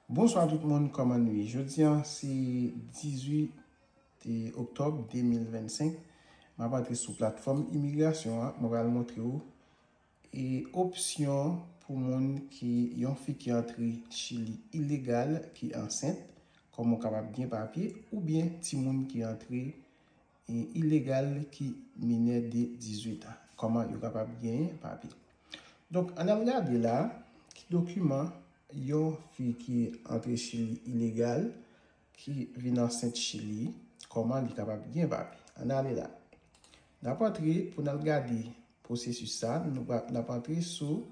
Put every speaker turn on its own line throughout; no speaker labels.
Bonswa tout moun kòman nou ye jodi an se 18 Oktòb 2025 map antre sou platfòm imigrasyon an mwen pral montre ou e opsyon pou moun ki yon fi ki antre chili ilegal ki ansent kòman ou kapab gen papye oubyen timoun ki antre E ilegal ki minè de 18 an. Kòman yo kapab genyen papye. Donk ann al gade la ki dokiman yon fi ki antre chili ilegal ki vin ansent chili kòman li kapab gen papye. Ann ale la. N ap antre pou n al gade pwosesis sa. N ap antre sou.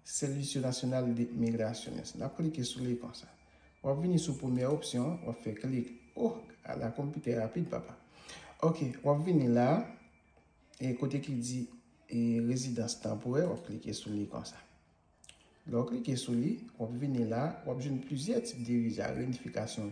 Servicio Nacional de Migraciones. N ap klike sou l ekran sa. W ap vini sou premye opsyon an, w ap fè klik. Oh, ala konpitè rapid papa. Ok, w ap vini la, e kote ki di e rezidans tanporè, w ap klike sou li kon sa. Lè w klike sou li, w ap vini la, w ap jwenn plizyè tip de viza, renifikasyon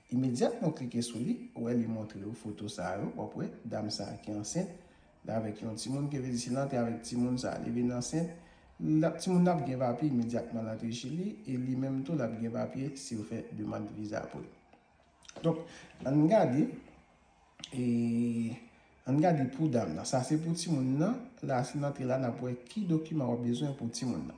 Imedyatman w klike sou li, ou wè li montre ou foto sa yo, wap wè dam sa ki ansent li avèk yon timoun ki vle di si l antre avèk timoun sa li vin ansent lap timoun nan ap gen papye imedyatman l antre chili e li menm tou lap gen papye si yo fè demand viza pou l donk ann gade e ann gade pou dam nan sa se pou timoun nan la si l antre la nap wè ki dokiman wap bezwen pou timoun nan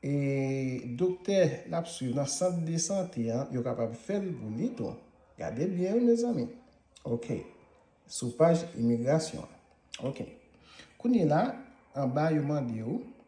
E doktè nap swiv nan sant de sante an yo kapab fèl pou li tou. Gade byen wi mezanmi. Ok. Sou paj imigrasyon an. Ok. Kounyela anba yo mande ou.